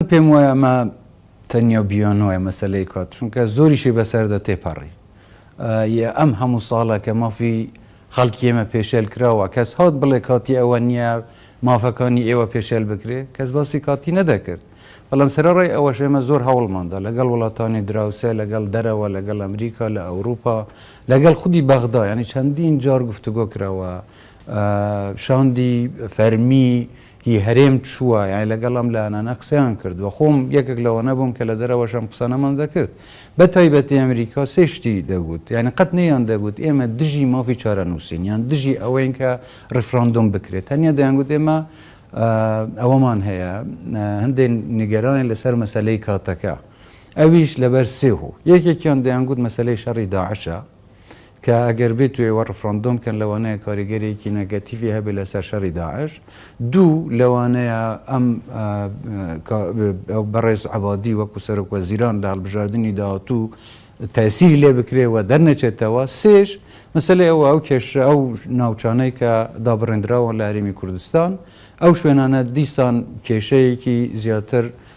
من پێم وایە ئەمە تەنیا و بیانوایە مەسەلەی کات چونکە زۆریشی بەسەردا تێپەڕی یە ئەم هەموو ساڵە کە مافی خەڵکی ئێمە پێشێل کراوە کەس هات بڵێ کاتی ئەوە نییە مافەکانی ئێوە پێشێل بکرێ کەس باسی کاتی نەدەکرد بەڵام سەرەڕای ئەوەش ئێمە زۆر هەوڵماندا لەگەڵ وڵاتانی دراوسێ لەگەڵ دەرەوە لەگەڵ ئەمریکا لە ئەوروپا لەگەڵ خودی بەغدا یانی چەندین جار گفتوگۆ کراوە شاندی فەرمی ی هەرێم چووە، یانی لەگەڵ ئەم لایەنانە قسەیان کردووە، خۆم یەکێک لەوانە بووم کە لە دەرەوەش ئەم قسانەمان دەکرد، بە تایبەتی ئەمریکا سێ شتی دەگوت، یانی قەت نەیان دەگوت ئێمە دژی مافی چارەنووسین، یان دژی ئەوەین کە ڕیفراندۆم بکرێت، تەنیا دەیانگوت ئێمە ئەوەمان هەیە، هەندێک نیگەرانین لەسەر مەسەلەی کاتەکە، ئەویش لەبەر سێ هۆ، یەکێکیان دەیانگوت مەسەلەی شەڕی داعشە، کە ئەگەر بێتو ئێوە ڕفراندۆم بکەن لەوانەیە کاریگەریەکی نەگەتیڤی هەبێت لەسەر شەڕی داعش. دوو، لەوانەیە ئەم بەڕێز عەبادی وەکو سەرۆک وەزیران لە هەڵبژاردنی داهاتوو تەئسیری لێ بکرێ و دەرنەچێتەوە. سێش، مەسەلەی ئەوە ئەو کێشە ئەو ناوچانەی کە دابڕێندراون لە هەرێمی کوردستان ئەو شوێنانە دیسان کێشەیەکی زیاتر